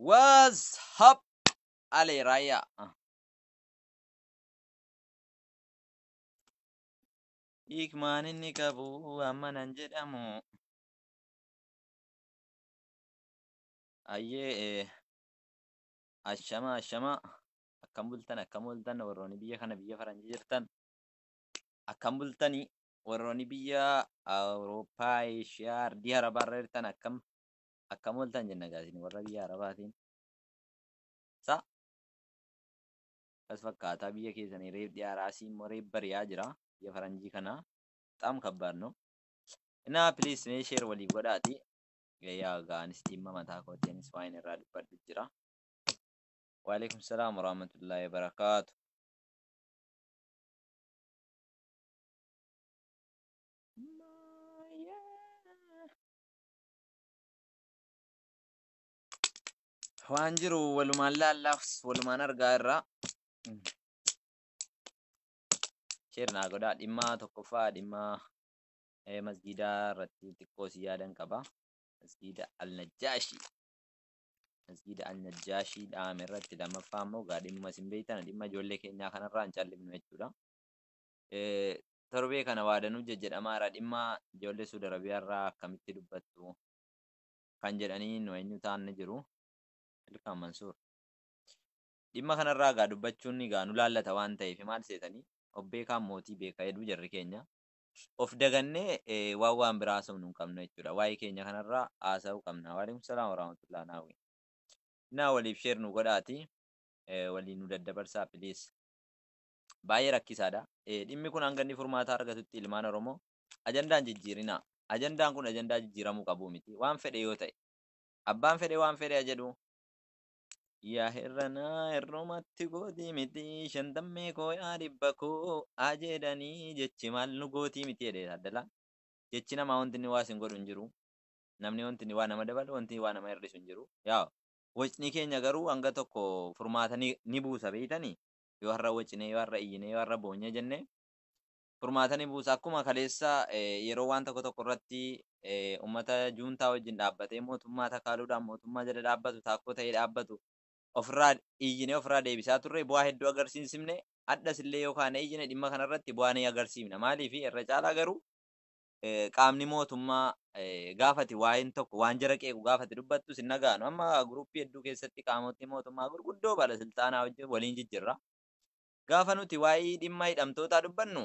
What's up Ale Raya. Hiikmaan inni qabu amma nan jedhamu. Ayyee eh, ashama ashama akkam bultan akkam ooltan warroonni biyya kana biyya faranjii jirtan akkam bultanii warroonni biyya awurooppaa eeshiyaa ardii arabaa irra jirtan akkam akkam ooltan jenna gaasin warra biyya arabaatiin sa kas fakkaataa biyya keessanii reef dhiyaaraasii immoo reef bari'aa jira biyya faranjii kana xaam kabbaadno inaa piliis mee sheer walii godhaati yaa gaanis dhimma mataa kootiinis waan irraa dubbadhu jira Waaleykum salaam warahmatullahi wabarakaatu. Waan jiru walumaan laallaaf walumaan argaa irraa. Sheer naa godhaa dhimmaa tokkoffaa dhimmaa eh, masgiidaa irratti xiqqoo si yaadan qaba. Masgiida Al-Najjaashi. Masjiida Al-Najjaashii dhaame irratti lammaffaa immoo gaa dhimmuma isin beektan dhimma ijoollee keenyaa kanarraa hin callifnu jechuudha. Torbee kana waadanuu jajjedhamaa irraa dhimma ijoollee Suudi Arabiyaa irraa akkamitti dubbattu kan jedhanii nu eenyu ta'an ni jiru. Ilkaan Mansuur. Dhimma kanarraa gaa dubbachuun gaa nu laallata waan ta'eef maal seetanii obbeekaan mootii beeka jedhu jarri keenya. of dagannee waan waan biraa haasofnu hin qabnu jechuudha. Waa'ee keenya kanarraa haasa'uu qabna. Waalaikum salaam warahmatullahi naawwi. Naa waliif sheer nu godhaati. Walii nu daddabarsaa piliis. Baay'ee rakkisaadha. Dhimmi kun hanga inni furmaataa argatutti ilmaan Oromoo ajandaan jijjiirinaa. Ajandaan kun ajandaa jijjiiramuu qabuu miti. Waan fedhe yoo ta'e. Abbaan fedhe waan fedhe jedhu Yaa hirranaa hirrumatti gootii miti shantammee koo yaa dhibba koo haa jedhanii jechi maal nu gootii miti jedhee taaddalaa jechi namaa wanti inni waa isin godhu hin jiru namni wanti inni waa nama dabalu wanti waa nama hir'isu hin jiru yaa wacni keenya garuu hanga tokko furmaata ni, ni buusa beeytanii yoo har'a wacnee yoo har'a iyyinee yoo har'a boonyee jennee furmaata ni buusa. Akkuma kaleessa yeroo waan tokko tokko irratti uummata juuntaa wajjin dhaabbatee mootummaa takaaluudhaan mootummaa jala dhaabbatu taakkoo ta'ee dhaabbatu ofirraa iyyinee ofirraa deebisaa turre bu'aa hedduu agarsiisifne addas illee yoo kaanee iyyine dhimma kanarratti bu'aa ni agarsiifna maaliif irra caalaa garuu qaamni mootummaa gaafati waa'een tokko waan jara qeequ gaafati dubbattu sin dhagaanu amma guruppii hedduu keessatti qaamotni mootummaa gurguddoo balasilxaanaa wajjin waliin jijjirra gaafa nuti waa'ee dhimma hidhamtootaa dubbannu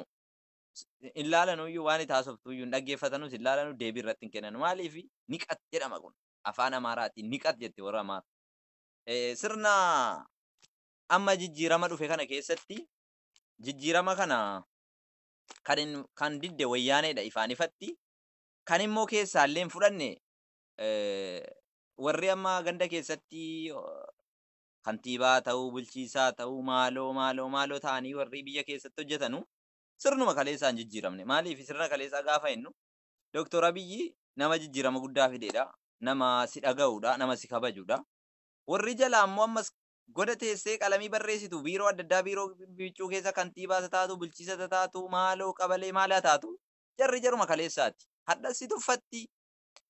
hin laalanuyyuu waan itti haasoftuyyuu hin dhaggeeffatanus hin laalanu deebii irratti hin kennanu maaliif niqat jedhama kun afaan amaaraatiin niqat jetti warra amaara Eh, sirna amma jijjiirama dhufe kana keessatti jijjiirama kana kan hin- kan didde wayyaaneedha ifaan ifatti kan immoo keessaallee hin fudhanne eh, warri amma ganda keessatti oh, kantiibaa ta'uu, bulchiisaa ta'uu, maaloo, maaloo, maaloo ta'anii warrii biyya keessatti hojjetanu sirnuma kaleessaa hin jijjiiramne. Maaliif sirna kaleessaa gaafa jennu Doktor Abiyyi nama jijjiirama guddaa fidedha, nama si dhaga'udha, nama si kabajudha. Warri jalaa immoo ammas goda teessee qalamii barreessitu, biiroo adda addaa biiroo biccuu keessa kantiibaa isa taatu, bulchiisa isa taatu, maaloo qabalee maal haa taatu jarri jaruma kaleessaati. Hadhas si tuffatti,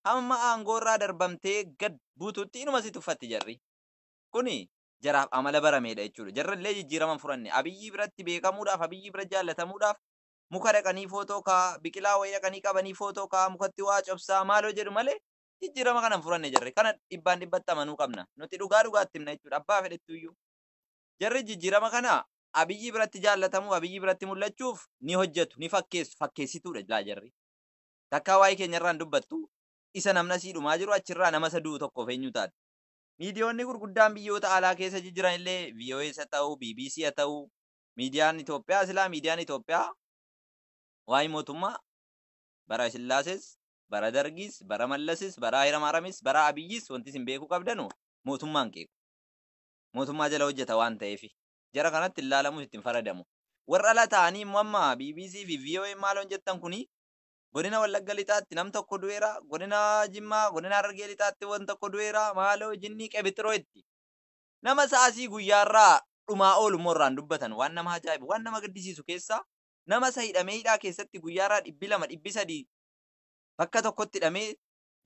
hamma aangoo irraa darbamtee gad buututti inuma si tuffatti jarri. Kuni jaraaf amala barameedha jechuudha. Jarrallee jijjiirama hin furanne. Abiyyii biratti beekamuudhaaf, Abiyyii bira jaallatamuudhaaf muka dhaqanii footoo ka'aa, biqilaa wayii dhaqanii qabanii footoo ka'aa, mukatti waa cobsaa maaloo jedhu malee jijjiirama kana hin furanne jarri. Kana dhibbaan dhibbatti amanuu qabna. Nuti dhugaa dhugaatti himna jechuudha. Abbaa fedhettuuyyuu. Jarri jijjiirama kana Abiyyii biratti jaallatamuuf, Abiyyii biratti mul'achuuf ni hojjetu, ni fakkeessu. Fakkeessituudha silaa jarri. Takkaa waa'ee keenyarraa hin dubbattu. Isa namni asii dhumaa jiru achirraa nama isa du'u tokkoof eenyu taati? Miidiyoonni gurguddaan biyyoota alaa keessa jijjiran illee VOAs ha ta'uu, bbc ha ta'uu, miidiyaan Itoophiyaa silaa miidiyaan Itoophiyaa waa'ee mootummaa bara Sillaasees, bara Dargiis, bara Mallasis, bara Hayilamaaramis, bara Abiyyis wanti isin beekuu qabdanu mootummaan qeequ. Mootummaa jala hojjeta waan ta'eefi. Jara kanatti hin laalamus itti hin faradamu. Warra ala ta'anii immoo amma bbc fi VOA maaloon jettan kuni Godina Wallagga Lixaatti nam tokko du'eera, Godina Jimmaa, Godina Harargee Lixaatti wan tokko du'eera, maaloo jinnii qebixiroo itti nama saasii guyyaa irraa dhumaa oolu immoo irraan dubbatan waan nama ajaa'ibu waan nama gaddisiisu keessaa nama isa hidhamee hidhaa keessatti guyyaa irraa dhibbi lama dhibbi sadii bakka tokkotti hidhamee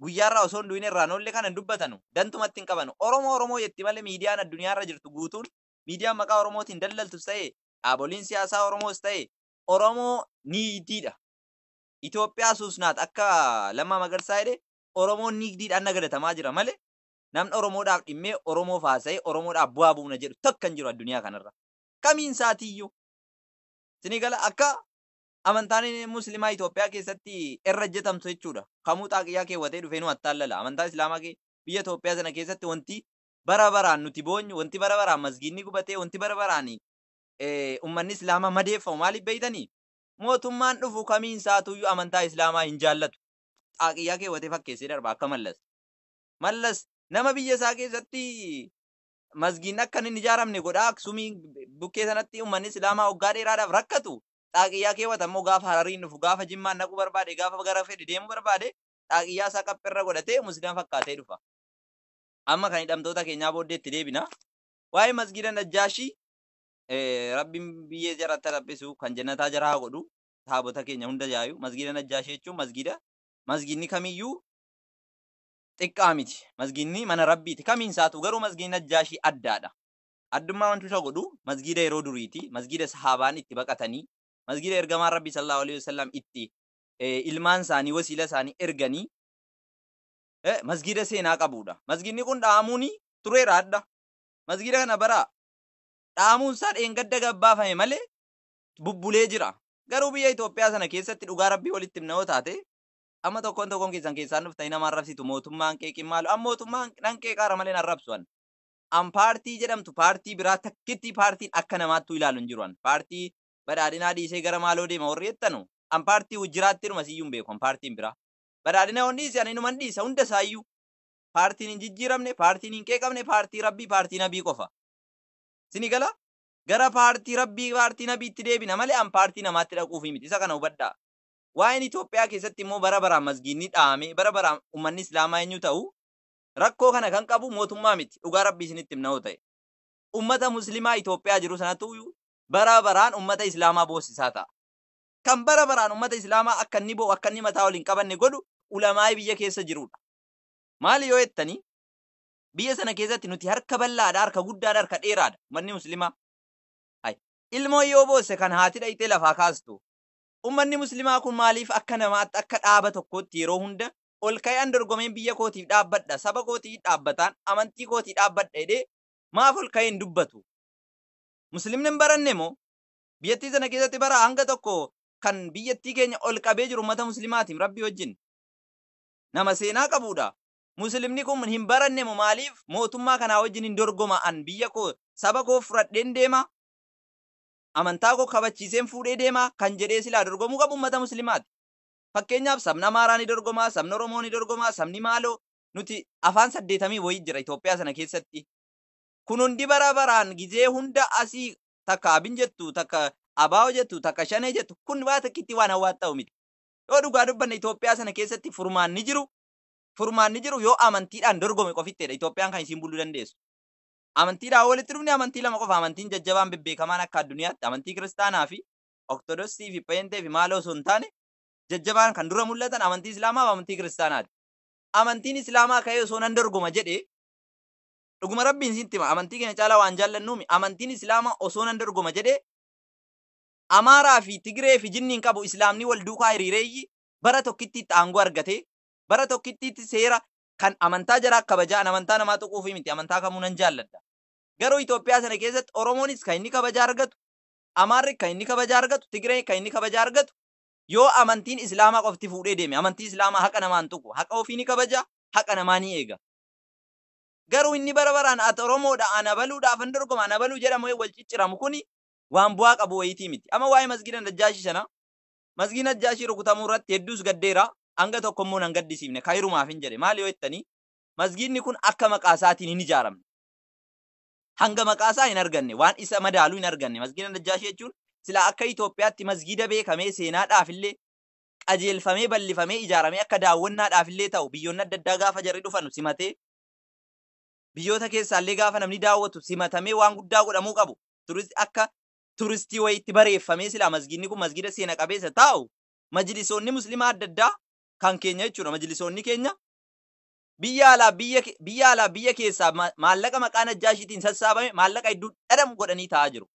guyyaa irraa osoo hin du'in irraan oolle kana hin dubbatanu dantumatti hin qabanu Oromoo Oromoo jetti malee miidiyaan addunyaa irra jirtu guutuun miidiyaan maqaa Oromootiin daldaltus ta'e dhaaboliin siyaasaa Oromoos ta'e Oromoo niitiidha Itoophiyaa suusnaat akka Lammaa Magarsaa jedhe Oromoon niigdiidhaan nagadatamaa jira male namni Oromoodhaaf dhimmee Oromoof haasa'ee Oromoodhaaf bu'aa buufna jedhu takka hin jiru adduniyaa kanarra. Kamiin isaatiiyyuu. Isinii gala akka amantaan muslimaa Itoophiyaa keessatti irra hojjetamtu jechuudha. Kamuu xaaqiyyaa keewwatee dhufee nu attaallala. Amantaa Islaamaa kee biyya Itoophiyaa sana keessatti wanti bara baraan nuti boonyu, wanti bara baraan masgiidni gubatee, wanti bara baraan ummanni Islaamaa madeeffamu maaliif beektanii? Mootummaan dhufu kamiin isaatuuyyu amantaa Islaamaa hin jaallatu. Xaaqiyyaa keewwatee fakkeessee darba akka Mallas. Mallas nama biyya isaa keessatti masgiidni akka hin ijaaramne godhaa Aksumii bukkee sanatti uummanni Islaamaa waggaa dheeraadhaaf rakkatu xaaqiyyaa keewwata immoo gaafa Harariin dhufu gaafa Jimmaan dhaquu barbaade gaafa gara fedhe deemuu barbaade xaaqiyyaa isaa qaphirra godhatee muslima fakkaatee dhufa. Amma kan hidhamtoota keenyaa booddee itti deebina. Waa'ee masgiida Najjaashii Rabbiin biyyee jara itti dhaphisu kan jannataa jara haa godhu taabota keenya hunda yaayu masgiida najjaashii jechuun masgiida masgiidni kamiyyuu xiqqaa miti masgiidni mana rabbiiti kamiin isaatu garuu masgiidni najjaashii addaadha addummaa wantu isa godhu masgiida yeroo duriiti masgiida sahaabaan itti baqatanii masgiida ergamaan rabbii sallallahu alaihi wasallam itti ilmaan isaanii wasiila isaanii erganii masgiida seenaa qabuudha masgiidni kun dhaamuuni tureera adda masgiida kana baraa dhaamuunsaa dheengadda gabbaafame malee bubbulee jira. Garuu biyya Itoophiyaa sana keessatti dhugaa rabbii walitti himna yoo taate amma tokkoon tokkoon keessan keessaan dhuftanii nama arrabsitu mootummaan qeeqiin maalu an mootummaan nan qeeqaara malee arrabsu an an paartii jedhamtu paartii biraa takkittii paartiin akka namaattuu ilaalu hin jiru an paartii badhaadhinaa dhiisee gara maaloo deema warri jettanu an paartii wajjiraatti dhuma siyyuu hin beeku an paartiin biraa badhaadhina on dhiise ani numan dhiisa hunda isaayyuu paartiin hin jijjiiramne paartiin hin qeeqamne paartii rabbii paartii nabii qofa Isinii galaa? Gara paartii Rabbii, paartii Nabiitti deebina malee an paartii namaatti dhaquufii miti. Isa kana hubadhaa. Waa'een Itoophiyaa keessatti immoo bara baraan masgiidni dhaamee, bara baraan ummanni Islaamaa eenyu ta'u, rakkoo kana kan qabu mootummaa miti. Dhugaa Rabbii isinitti himna yoo ta'e. Ummata Muslimaa Itoophiyaa jiru sanatu bara baraan ummata Islaamaa boossisaa ta'a. Kan bara baraan ummata Islaamaa akka inni boo'u, akka inni mataa ol hin qabanne godhu ulamaa'ii biyya keessa jiruudha. Maali yoo jettanii? Biyya sana keessatti nuti harka bal'aadha, harka guddaadha, harka dheeraadha. Ummanni Muslimaa. Hay. Ilmoo yoo boosse kan haati dhayxee lafaa kaastu. Ummanni Muslimaa kun maaliif akka namaatti, akka dhaaba tokkootti yeroo hunda ol ka'ee an dorgomeen biyya kootiif dhaabbadha, saba kootiif dhaabbataan, amantii kootii dhaabbadha jedhee maaf ol ka'ee hin dubbatu? Muslimni hin baranne moo? Biyyattii sana keessatti bara hanga tokko kan biyyattii keenya ol qabee jiru ummata Muslimaatiim Rabbii wajjin. Nama seenaa qabuudha. muslimni kun hin baranne mo maalif mootummaa kanaa wajjin hin dorgoma an biyya koo saba koo fudhadheen deema amantaa koo kabachiiseen fuudhee deema kan jedhee silaa dorgomuu qabu ummata muslimaati fakkeenyaaf sabni amaaraa ni dorgomaa sabni oromoo ni dorgomaa sabni maaloo nuti afaan saddeetamii wayii jira Itoophiyaa sana keessatti kun hundi bara baraan gizee hunda asii takka abin jettu takka abaa'oo jettu takka shanee jettu kun waa takkitti waan hawwaat ta'u miti yoo dhugaa dubbanne Itoophiyaa sana keessatti furmaanni jiru furmaanni jiru yoo amantiidhaan dorgome qofitteedha Itoophiyaan kan isiin buluu dandeessu. Amantiidhaan walitti dhufne amantii lama qofa amantiin jajjabaan bebbeekamaan akka adduniyaatti amantii kiristaanaa fi Oktodosii fi Pheenxee fi maaloo osoo hin taane jajjabaan kan dura mul'atan amantii Islaamaa fi amantii kiristaanaati. Amantiin Islaamaa ka'ee osoo nan dorgoma jedhe dhuguma rabbiin siin tima amantii keenya caalaa waan jaallannuumi amantiin Islaamaa osoo nan dorgoma jedhe Amaaraa fi Tigiree fi jinniin qabu Islaamni wal duukaa hiriireeyyi bara tokkittiitti aangoo argatee, bara tokkittiitti seera kan amantaa jaraa kabajaa, an amantaa namaa tuquufii miti, amantaa kamuu nan jaalladha. Garuu Itoophiyaa sana keessatti Oromoonis kan inni kabajaa argatu, Amaarri kan inni kabajaa argatu, Tigreen kan inni kabajaa argatu yoo amantiin Islaamaa qofti fuudhee deeme. Amantii Islaamaa haqa namaa hin tuqu. Haqa ofii ni kabaja, haqa namaa ni eega. Garuu inni bara baraan ati Oromoodha, an abaluudha, afan dorgoma, an abaluu jedhamu wal cicciramu kuni waan bu'aa qabu wayiitii miti. Amma waa'ee masgiida Najjaashii sana Masgii Najjaashii rukutamuu irratti hedduus gaddeera, hanga tokko immoo nan gaddisiifne. Khayirumaafin jedhe. Maali yoo jettanii, masgiidni kun akka maqaa isaatiin hin ijaaramne. Hanga maqaa isaa hin arganne, waan isa madaalu hin arganne. Masgiida Najjaashii jechuun silaa akka Itoophiyaatti masgiida beekamee seenaadhaaf illee qajeelfamee bal'ifamee ijaaramee akka daawwannaadhaaf illee ta'u biyyoonni adda addaa gaafa jarri dhufanu simatee biyyoota keessaa illee gaafa namni daawwatu simatamee waan guddaa godhamuu qabu turist akka turistii wayiitti bareeffamee silaa masgiidni kun masgiida seena qabeessa taa'u majlisoonni muslimaa adda addaa kan keenya jechuudha majlisoonni keenya biyya alaa biyya ke- biyya alaa biyya keessaa ma- maallaqa maqaa najjaashiitiin sassaabame maallaqa hedduu dhadhamu godhanii taa'aa jiru.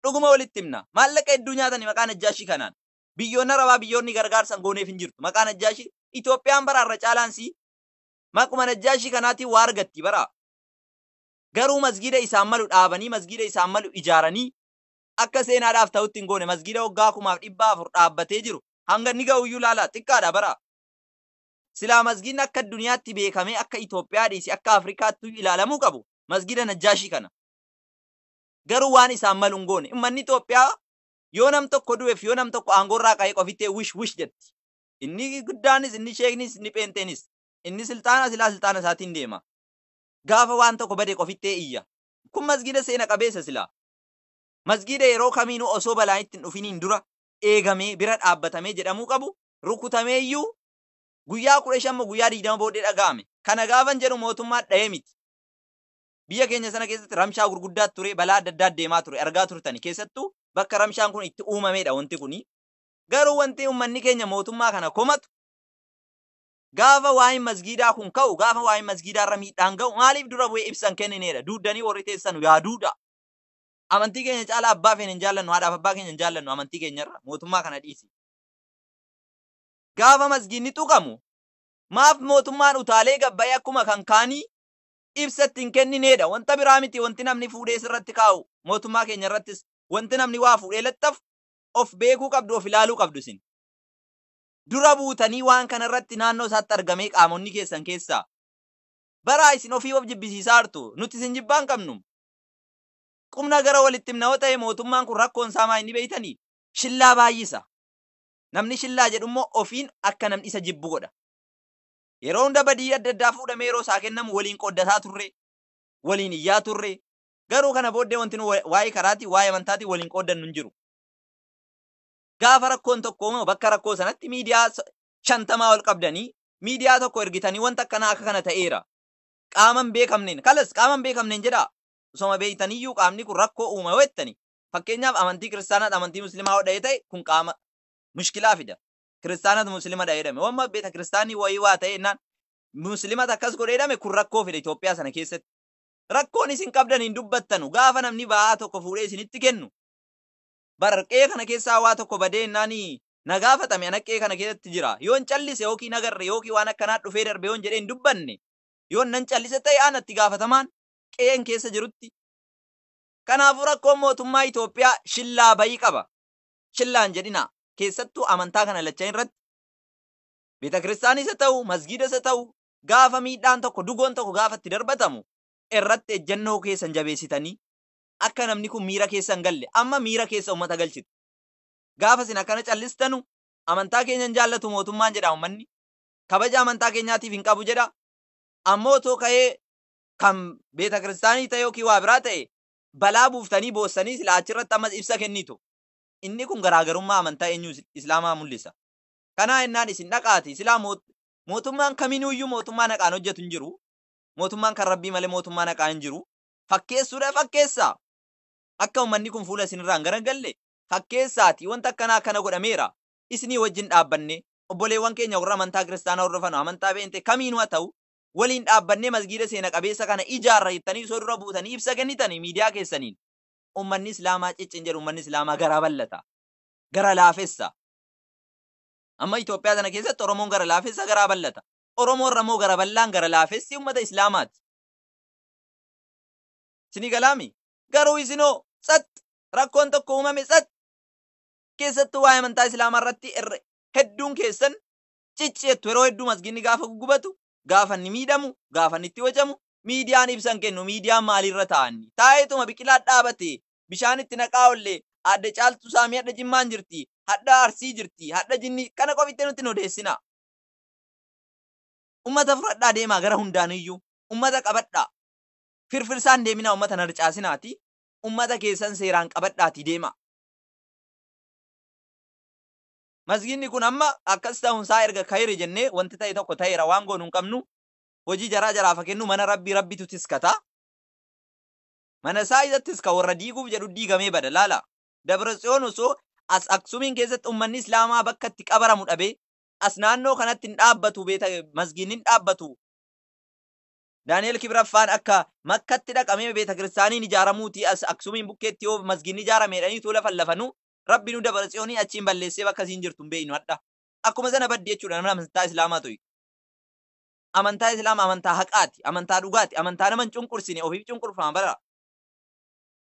Dhuguma walitti himna. Maallaqa hedduu nyaatanii maqaa najjaashii kanaan. Biyyoonni arabaa biyyoonni gargaarsan gooneef hin jirtu. Maqaa najjaashii Itoophiyaan bara irra caalaan sii maquma najjaashii kanaatiin waa argatti bara. Garuu masgiida isaaf malu dhaabanii, masgiida isaaf malu ijaaranii akka seenaadhaaf ta'utti hin goone. Masgiida waggaa kumaaf dhibbaa afur dhaabbatee jiru hanga inni gahu iyyuu ilaalaa, xiqqaadha bara. Silaa masgiidni akka adduniyaatti beekamee akka Itoophiyaa dhiisi akka Afrikaatti iyyuu ilaalamuu qabu masgiida Najjaashii kana. Garuu waan isaaf malu hin goone. Ummanni Itoophiyaa yoo nam tokko du'eef yoo nam tokko aangoo irraa ka'ee qofittee wish wish jetti. Inni guddaanis, inni sheeknis, inni pheenxeenis. Inni silxaana silaa silxaana isaatiin deema. gaafa waan tokko bade qofittee iyya. Kun masgiida seena qabeessa silaa. Masgiida yeroo kamiinuu osoo balaan itti hin dhufiniin dura eegamee, bira dhaabbatamee jedhamuu qabu rukutameeyyuu guyyaa 15 moo guyyaa 20 booddee dhaga'ame. Kana gaafan jedhu mootummaa dhahee miti. Biyya keenya sana keessatti ramshaa gurguddaatu ture, balaa adda addaa deemaa ture, argaa turtani. Keessattuu bakka ramshaan kun itti uumameedha wanti kuni. Garuu wanti ummanni keenya mootummaa kana komatu Gaafa waa'een masgiidaa kun ka'u, gaafa waa'een masgiidaa irra miidhaan ga'u maaliif dura bu'ee ibsa hin kennineedha? Duuddanii warri teessanu yaa duuda! Amantii keenya caalaa abbaa feene hin jaallannu, haadhaaf abbaa keenya hin jaallannu amantii keenya irra. Mootummaa kana dhiisi. Gaafa masgiidni tuqamu maaf mootummaan utaalee gad ba'ee akkuma kan kaanii ibsa itti hin kennineedha? Wanta biraa miti wanti namni fuudhee sirratti kaa'u mootummaa keenya irrattis wanti namni waa fuudhee laxxafu of beekuu qabdu, of ilaaluu qabdu isin. dura buutanii waan kana irratti naannoo isaatti argamee qaamonni keessan keessaa baraa isin ofii of jibbisiisaa jirtu nuti isin jibbaa hin qabnu qubna gara walitti himna yoo ta'e mootummaan kun rakkoon isaa maa inni beeytanii shillaa baay'isa namni shillaa jedhu immoo ofiin akka namni isa jibbu godha yeroo hunda badii adda addaa fuudhamee yeroo isaa kennamu waliin qooddataa turre waliin iyyaa turre garuu kana booddee wanti nu waa'ee karaatii waa'ee amantaatii waliin qooddannu hin jiru gaafa rakkoon tokko uumama bakka rakkoo sanatti miidiyaa so- shantamaa ol qabdanii miidiyaa tokko ergitanii wanta akkanaa akka kana ta'eera. Qaama hin beekamneen kalas qaama hin beekamneen jedhaa osoma beektaniyyuu qaamni kun rakkoo uuma yoo jettanii fakkeenyaaf amantii kiristaanaat amantii muslimaa yoo dha'ee ta'e kun qaama mushkilaa fida. Kiristaanaat muslima dha'ee jedhame wamma beeta kiristaanii wayii waa ta'e jennaan muslimat akkas godhee jedhame kun rakkoo fida Itoophiyaa sana keessatti. Rakkoon isin qabdan hin dubbattanu gaafa namni ba'aa tokko fuudhee isinitti kennu bar qe'ee kana keessaa waa tokko badee ennaan na gaafatame ana qe'ee kana keessatti jira yoon callise yookiin agarre yookiin waan akkanaa dhufee darbe yoon jedhee hin dubbanne yoon nan callise ta'e ana itti gaafatamaan qe'een keessa jirutti kanaafuu rakkoon mootummaa Itoophiyaa shillaa bayii qaba shillaan jedhinaa keessattuu amantaa kana lachan irratti beeta kiristaanis haa ta'u masgiidas haa ta'u gaafa miidhaan tokko dugoon tokko gaafa itti darbatamu irratti ejjennoo keessan jabeessitanii akka namni kun miira keessa hin galle amma miira keessa ummata galchitu. Gaafa isin akkana callistanu amantaa keenya hin jaallatu mootummaan jedha ummanni. Kabaja amantaa keenyaatiif hin qabu jedha. Ammoo otoo ka'ee kan beeta kiristaanii ta'e yookiin waa biraa ta'e balaa buuftanii boossanii silaa achirratti ammas ibsa kennitu. Inni kun garaagarummaa amantaa eenyuu islaamaa mul'isa. Kanaa ennaan isin dhaqaati silaa mootummaan kaminuuyyuu mootummaan haqaan hojjetu hin jiru. Mootummaan kan rabbii malee mootummaan haqaa hin jiru. fakkeessuudha fakkeessaa. Akka ummanni kun fuula isinirraa hin garagalle fakkeessaatii wanta akkanaa akkana godhameera. Isinii wajjin dhaabbannee obboleewwan keenya warra amantaa kiristaanaa hordofanu amantaa pheenxee kamiinuu haa ta'u waliin dhaabbannee masgiida seena qabeessa kana ijaarra jettanii osoo dura buutanii ibsa kennitanii miidiyaa keessaniin ummanni islaamaa cicci hin jedhu ummanni islaamaa garaa bal'ata gara laafessa amma Itoophiyaa sana keessatti Oromoon gara laafessa garaa bal'ata Oromoo irra immoo gara bal'aan gara laafessi ummata islaamaati Isinii galaa mii? Garuu isinoo tsat! Rakkoon tokko uumame tsat! Keessattuu waa'ee amantaa Islaamaa irratti irra hedduun keessan cic jettu yeroo hedduu masgiinni gaafa guggubatu, gaafa inni miidhamu, gaafa inni itti wacamu, miidiyaan ibsa hin kennu, miidiyaan maaliirra taa'anni? Taa'eetuma biqilaa dhaabate, bishaan itti naqaa olle, Aadde Caaltuu Saamii hadha Jimmaan jirti, hadha Arsii jirti, hadha Jinni kana qofittee nutti hin odeessinaa. Ummata fudhadhaa deemaa gara hundaaniyyuu. ummata qabadhaa firfirsaa hin deeminaa ummata hin harcaasinaati ummata keessan seeraan qabadhaatii deemaa. Masgiinni kun amma akkas ta'uun isaa erga kayri jennee wanti ta'e tokko ta'eera waan goonu hin qabnu hojii jaraa jaraaf haa kennu mana rabbii rabbitu tiskata. Mana isaa isa tiska warra diiguuf jedhu diigamee bada laala. Dabra Tsiyoon osoo as Aksumiin keessatti ummanni Islaamaa bakka itti qabaramu dhabee as naannoo kanatti hin dhaabbatu beeta masgiinni hin dhaabbatu Daani'eel Kibraffaan akka Makkatti dhaqamee beetakiristaaniin ijaaramuutii as Aksumiin bukkeetti yoo masgiidni ijaarame jedhanii utuu lafallafanu Rabbi nu Dabratsiyooniin achiin balleessee bakka isiin jirtu hin beeknu hadha. Akkuma sana baddi jechuudha namni amantaa Islaamaa tuqe. Amantaa Islaama amantaa haqaati, amantaa dhugaati, amantaa nama hin cunqursine, ofiif cunqurfama bara.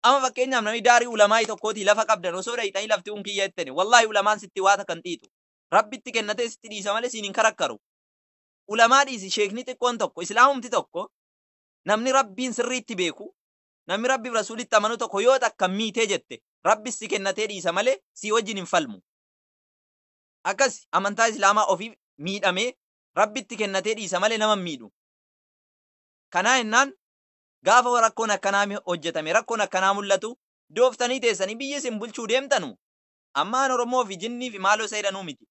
Amma fakkeenyaaf namni daarii ulamaa'ii tokkootii lafa qabdan osoo dhayxanii lafti kun kiyya jettani wallaahi ulamaan sitti waa takka hin xiixu. Rabbitti kennatee sitti dhiisa malee siin hin karakkaru. ulamaa dhiisi sheekni xiqqoon tokko islaamumti tokko namni rabbiin sirriitti beeku namni rabbiif rasuulitti amanu tokko yoo takka miitee jette rabbis si kennatee dhiisa malee sii wajjin hin falmu akkas amantaa islaamaa ofiif miidhamee rabbitti kennatee dhiisa malee nama hin miidhu kanaa hennaan gaafa rakkoon akkanaa mi- hojjetame rakkoon akkanaa mul'atu dooftanii teessanii biyyi isin bulchuu deemtanu ammaan oromoo fi jinnii fi maaloo isa jedhanuu miti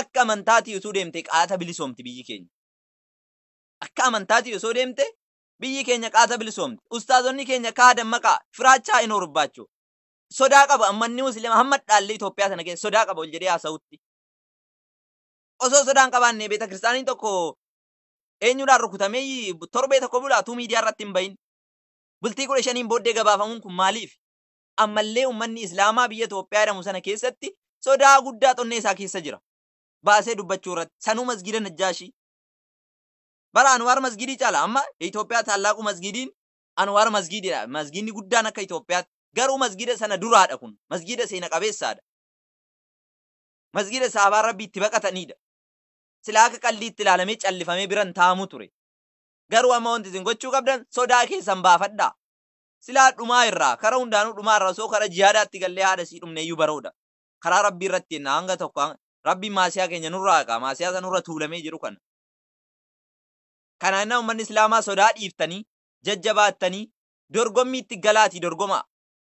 Akka amantaatii utuu deemtee qaata bilisoomti biyyi keenya. Akka amantaatii osoo deemte biyyi keenya qaata bilisoomti. Ustaazonni keenya kaa dammaqaa firaachaa hin horbaachuu. Sodaa qaba ammanni musliima hamma dhaalli Itoophiyaa sana keessa sodaa qaba ol jedhee haasa'utti. Osoo sodaa hin qabaanne beeta kiristaaniin tokko eenyudhaan rukutamee torbee tokko bulaa utuu miidiyaa irratti hin bahin. Bultii kudha shaniin booddee gabaafamuun kun maaliif? ammallee ummanni Islaamaa biyya Toophiyaa jedhamu sana keessatti sodaa guddaa xonnee isaa keessa jira. Baasee dubbachuu irratti sanuu masgiida Najjaashii. Bara Anwaar masgiidii caala amma Itoophiyaa taallaaquu masgiidiin Anwaar masgiididha. Masgiidni guddaan akka Itoophiyaatti garuu masgiida sana duraadha kun. Masgiida seena qabeessaadha. Masgiida saabaan rabbi itti baqatanidha. Silaa akka qalliitti ilaalamee callifamee biran taa'amu ture. Garuu amma wanti isin gochuu qabdan sodaa keessan baafadhaa. Silaa dhumaa irraa, kara hundaanuu dhumaa irraa osoo kara jihaadaatti gallee haadha isii dhumneeyyuu baroodha. Karaa Rabbii irratti jenna hanga tokko hanga- Rabbiin maasiyaa keenya nurraa haqaa, maasiyaa isa nurra tuulamee jiru kana. Kana innaa ummanni Islaamaa sodaa dhiiftanii, jajjabaattanii, dorgommiitti galaatii dorgomaa.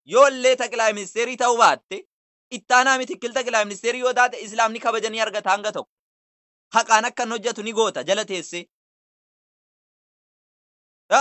Yoo illee Xaqilaay Ministeerii ta'uu baatte, ittaanaa mitikkil Xaqilaay Ministeerii yoo taate Islaamni kabaja ni argata hanga tokko. Haqaan akka inni hojjetu ni goota jala teessee. Ha?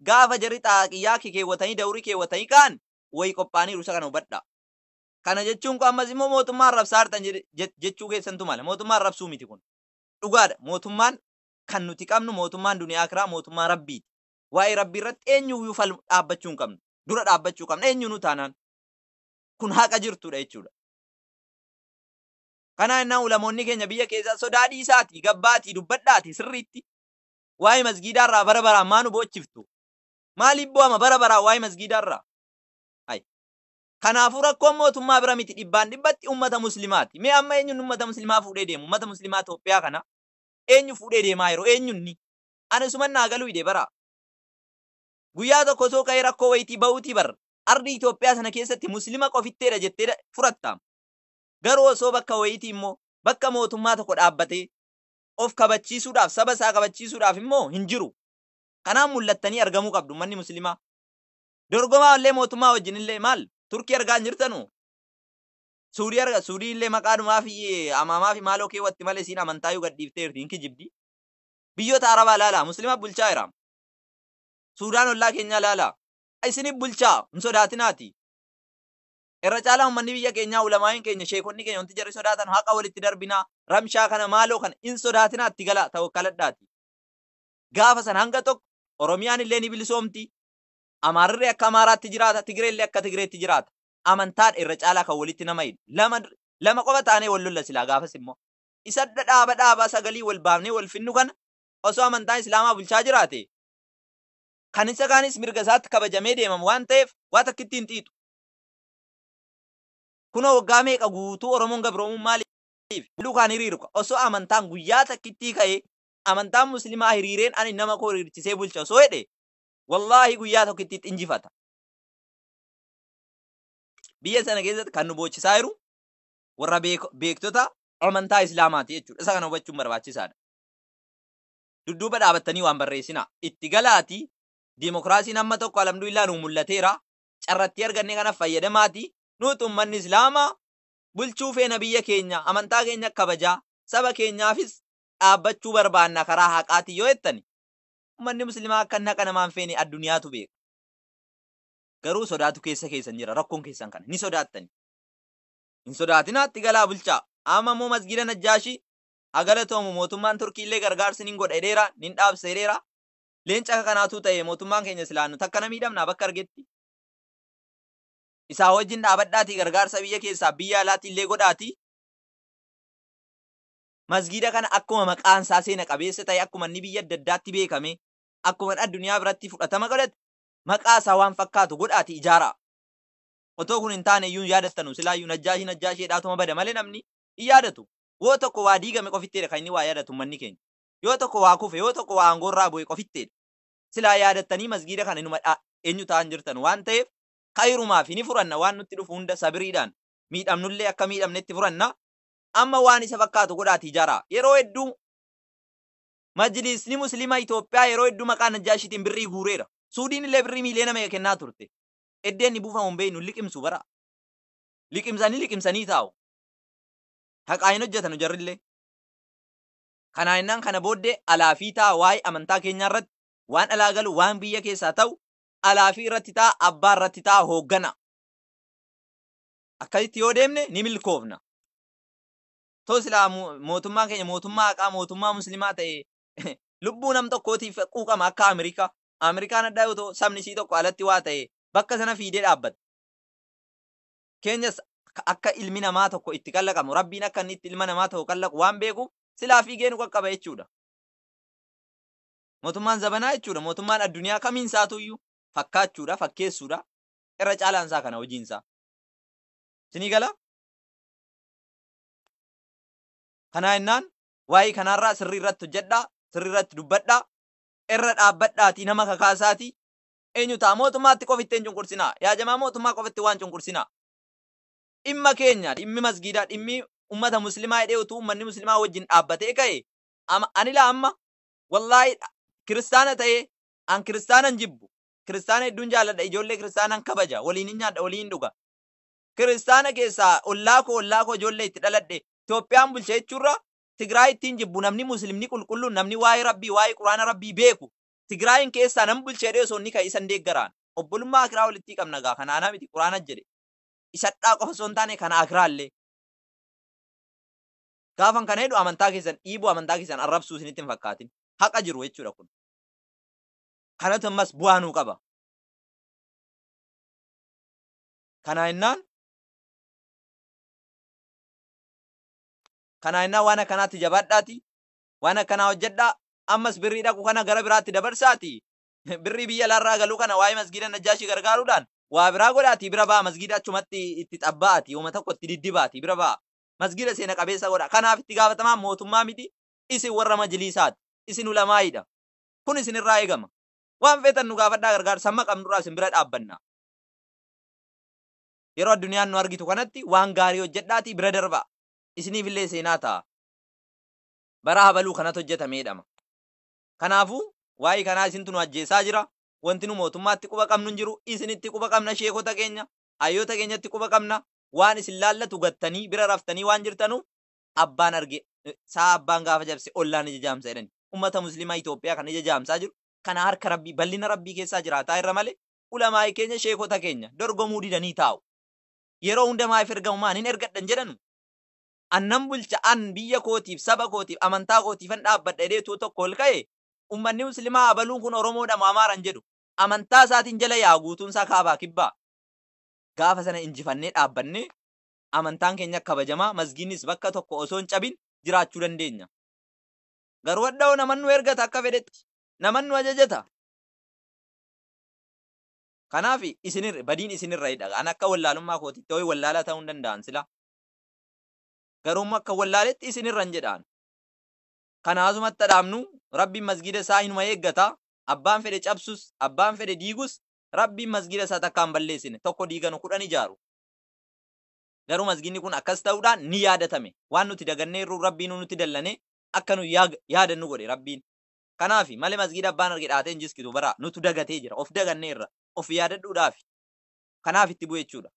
gaafa jarri xaaqiyyaa kikeewwatanii dawrii keewwatanii ka'an wayi qophaa'aniiru isa kana hubadhaa. Kana jechuun koo ammas immoo mootummaa arrabsaartan jedhe- je- jechuu keessantu mala. Mootummaa arrabsuu miti kun. Dhugaadha mootummaan kan nuti qabnu mootummaan duniyaa akiraa mootummaa rabbiiti. Waa'ee rabbii irratti eenyuyyuu fal dhaabbachuu hin qabnu. Dura dhaabbachuu qabna eenyuunuu taanaan. Kun haqa jirtuudha jechuudha. Kana jennaan ulamoonni keenya biyya keessaa sodaa dhiisaatii gabbaatii dubbadhaatii sirriitti waa'ee masgiidaa irraa bara baraan maa nu boochiftu? Maaliif boo'ama bara baraan waa'ee masgiidaa irraa? Hay. Kanaafuu rakkoon mootummaa bira miti dhibbaan dhibbatti ummata muslimaati. Mee amma eenyuun ummata muslimaa fuudhee deemu? Ummata muslimaa Itoophiyaa kana eenyu fuudhee deemaa yeroo eenyuun ni? Ani suman naa galuu hidhe bara. Guyyaa tokko osoo ka'ee rakkoo wayitii ba'uutii bar ardi Itoophiyaa sana keessatti muslima qofitteedha jettee da- furattaam. Garuu osoo bakka wayitii immoo bakka mootummaa tokko dhaabbatee of kabachiisuudhaaf, saba isaa kabachiisuudhaaf immoo hin jiru. Kanaan mul'attanii argamuu qabdu ummanni Muslimaa. Dorgomaa illee mootummaa wajjin illee maal Turkii argaa hin jirtanu? Suudii arga Suudii illee maqaadhumaa fi amaamaa fi maaloo keewwatti malee isiin amantaayyuu gad dhiifteerti hin kijibdi. Biyyoota Arabaa ilaalaa Muslima bulchaa jira. Suudaan ollaa keenyaa ilaalaa. Isinif bulchaa hin sodaatinaati. Irra caalaa ummanni biyya keenyaa, ulamaa'iin keenya, sheekonni keenya wanti jarri sodaatan haqa walitti darbinaa, ramshaa kana maaloo kana hin sodaatinaa itti galaa tawakkaladhaati. Gaafa san hanga tokko Oromiyaan illee ni bilisoomti, Amaarrillee akka Amaaraatti jiraata, Tigreellee akka Tigreetti jiraata. Amantaadha irra caalaa kan walitti nama hidhu. Lama lama qofa taanee wal lolla silaa gaafas immoo. Isa dhaaba dhaaba sagalii wal baafnee wal fidnu kana osoo amantaan Islaamaa bulchaa jiraate kan isa kaanis mirga isaatti kabajamee deemama waan ta'eef waa takka itti hin xiixu. Kunoo waggaa meeqa guutuu Oromoon gabroomuun maaliif? Lalluu kaan hiriiru ka. Osoo amantaan guyyaa takkittii ka'ee amantaan muslimaa hiriireen ani nama koo hiriirchisee bulcha osoo jedhe wallaahi guyyaa tokkittiitti injifata. Biyya sana keessatti kan nu boochisaa jiru warra beektota amantaa Islaamaati jechuudha. Isa kana hubachuun barbaachisaadha. Dudduuba dhaabattanii waan barreessinaa. Itti galaatii diimokiraasiin amma tokko alhamdulillah nuu mul'ateera. carra itti arganne kana fayyadamaati nuuti ummanni islaama bulchuu feena biyya keenya amantaa keenya kabajaa saba keenyaafis dhaabbachuu barbaanna karaa haqaati yoo jettani ummanni muslimaa akka naqa namaan feene adduniyaatu beeka garuu sodaatu keessa keessan jira rakkoon keessan kana ni sodaattani hin sodaatinaatti galaa bulchaa amma immoo masgiida najjaashii haa galatoomu mootummaan turkiillee gargaarsi nin godha jedheera nin dhaabsa jedheera Leenca akka kanaa utuu ta'ee mootummaan keenya silaa nu takkana miidhamnaa bakka argetti? Isaa wajjin dhaabadhaatii gargaarsa biyya keessaaf biyya alaatii illee godhaatii masgiida kana akkuma maqaan isaa seena qabeessa ta'e akkuma inni biyya adda addaatti beekamee akkuma addunyaa biratti fudhatama godhate maqaa isaa waan fakkaatu godhaatii ijaaraa. Otoo kun hin taane iyyuu hin yaadattanu silaa iyyuu najjaashii najjaashii jedhaatuma bada malee namni hin yaadatu. Woo tokko waa diigame qofitteedha kan inni waa yaadatu ummanni keenya. Yoo tokko waa kufe, yoo tokko waa aangoorraa bu'e qofitteedha. Silaa yaadattanii masgiida kana inuma dha, eenyu ta'an jirtanu waan ta'eef khayrumaafi ni furanna waan nutti dhufu hunda sabiriidhaan miidhamnullee akka miidhamnetti furanna. Amma waan isa fakkaatu godhaati ijaaraa. Yeroo hedduu Majliisni Muslima Itoophiyaa yeroo hedduu maqaa Najjaashiitiin birrii guureera. Suudiin illee birrii miiliyoona meeqa kennaa turte. Eddee inni buufamu hin beeknu liqimsu bara. Liqimsanii liqimsanii taa'u. Haqaa hin hojjetanu jarrillee. Kanaa jennaan kana booddee alaa fi ta'a waa'ee amantaa keenyaa irratti waan alaa galu waan biyya keessaa ta'u alaa fi irratti ta'a abbaa irratti ta'a hooggana. Akkasitti yoo deemne ni milkoofna. Too silaa mo- mootummaan keenya mootummaa haqaa mootummaa muslimaa ta'e lubbuu nam tokkootiif quuqama akka Ameerikaa. Ameerikaan adda yoo ta'u sabni isii tokko alatti waa ta'e bakka sana fiidee dhaabbata. keenyas ka- akka ilmi namaa tokko itti kallaqamu rabbiin akka inni itti ilma namaa tokko kallaqu waan beekuuf silaa fiigee nu qaqqaba jechuudha. Mootummaan zabanaa jechuudha. Mootummaan addunyaa kamiin isaatuyyuu fakkaachuudha, fakkeessuudha. Irra caalaan isaa kana hojiin isaa. Isinii gala? Kanaa jennaan waa'ee kanaarraa sirrii irratti hojjedhaa, sirrii irratti dubbadhaa, irra dhaabbadhaatii nama kakaasaatii enyu ta'a mootummaatti qof itti hin cunqursinaa yaa jamaa mootummaa qof itti waan cunqursinaa dhimma keenya dhimmi masgiidaa dhimmi ummata muslimaa hidhee utuu ummanni muslimaa wajjin dhaabbatee ka'e ama anila amma wallaahi dha- kiristaana ta'ee an kiristaanan jibbu kiristaana hedduun jaalladha ijoollee kiristaanan kabaja waliin hin nyaadha waliin hin dhuga kiristaana keessaa ollaa koo ollaa koo ijoollee itti dhaladhe Itoophiyaan bulcha jechuurra Tigraay ittiin jibbu namni muslimni qulqulluun namni waa'ee rabbii waa'ee quraana rabbii beeku Tigraayin keessaa nan bulcha jedhee osoo inni ka'e isa hin deeggaraan. Obbolummaa akiraa walittii qabna gaa kana anaa miti quraana jedhe. Isadhaa qofa osoo hin taane kana akiraallee. Gaafan kana jedhu amantaa keessan dhiibuu amantaa keessan arrabsuu isinitti hin fakkaatin. Haqa jiru jechuudha kun. Kanatu ammas bu'aa nuu qaba. Kanaa jennaan kanaa jennaan waan akkanaatti jabaadhaati waan akkanaa hojjadhaa, ammas birrii dhaqu kana gara biraatti dabarsaatii birrii biyya alaarraa galu kana waa'ee masgiida Najjaashii gargaaruudhaan waa biraa godhaatii bira ba'aa masgiida achumatti itti xabba'aatii homa tokko itti diddibaatii bira ba'aa. Masgiida seena qabeessa godhaa. Kanaaf itti gaafatamaan mootummaa miti, isin warra majiliisaati. Isin ulamaa'iidha. Kun isinirraa eegama. Waan feetan nu gaafadhaa gargaarsa hamma qabnurraa isin bira dhaabbanna. Yeroo addunyaan nu argitu kanatti waan gaarii hojjadhaatii bira darbaa. Isiniifillee seenaa ta'a. Bara habaluu kanat hojjetame jedhama. Kanaafuu waa'ee kanaa isintu nu ajjeessaa jira. Wanti nu mootummaatti quba qabnu hin jiru. Isinitti quba qabna sheekota keenya, hayyoota keenyatti quba qabna. Waan isin laallatu gattanii bira raftanii waan jirtanuuf abbaan arge sa'a abbaan gaafa cabse ollaan ija jaamsa jedhani. Ummata muslimaa Itoophiyaa kan ija jaamsaa jiru kana harka Rabbii ballina Rabbii keessaa jiraataa irra malee ulamaa'i keenya sheekota keenya dorgomuu didanii taa'u. Yeroo hunda maayif ergamu maan hin ergadhan jedhanu? an nan bulcha, an biyya kootiif, saba kootiif, amantaa kootiifan dhaabbadha jedhee utuu tokko ol ka'e, ummanni muslimaa abaluun kun Oromoodha moo Amaara hin jedhu. Amantaa isaatiin jala yaa'a guutuun isaa kaabaa kibbaa. Gaafa sana injifannee dhaabbanne, amantaan keenya kabajamaa, masgiidnis bakka tokko osoo hin cabin jiraachuu dandeenya. Garuu hadha hoo naman nu ergata akka fedhetti. Naman nu ajajata. Kanaaf isin badiin isin irrayidha. An akka wallaalummaa kootitti ho'i wallaalaa ta'uu hin danda'an silaa. Garuummo akkan wallaaletti isinirran jedha an. Kana asumatti ha dhaabnu, Rabbiin masgiida isaa hinuma eeggata, abbaan fedhe cabsus, abbaan fedhe diigus, Rabbiin masgiida isaa takkaa hin balleessine, tokko diiganu kudhan ijaaru. Garuu masgiidni kun akkas ta'uudhaan ni yaadatame. Waan nuti dagannee irruu Rabbiinuu nutti dallanee akka nuyi yaag- yaadannu godhe Rabbiin. Kanaafi malee masgiida abbaan arge dhaatee hin jiskitu baraa nutu dagatee jira, of daganneerra, of yaadadhuudhaafi. Kanaaf itti bu'e jechuudha.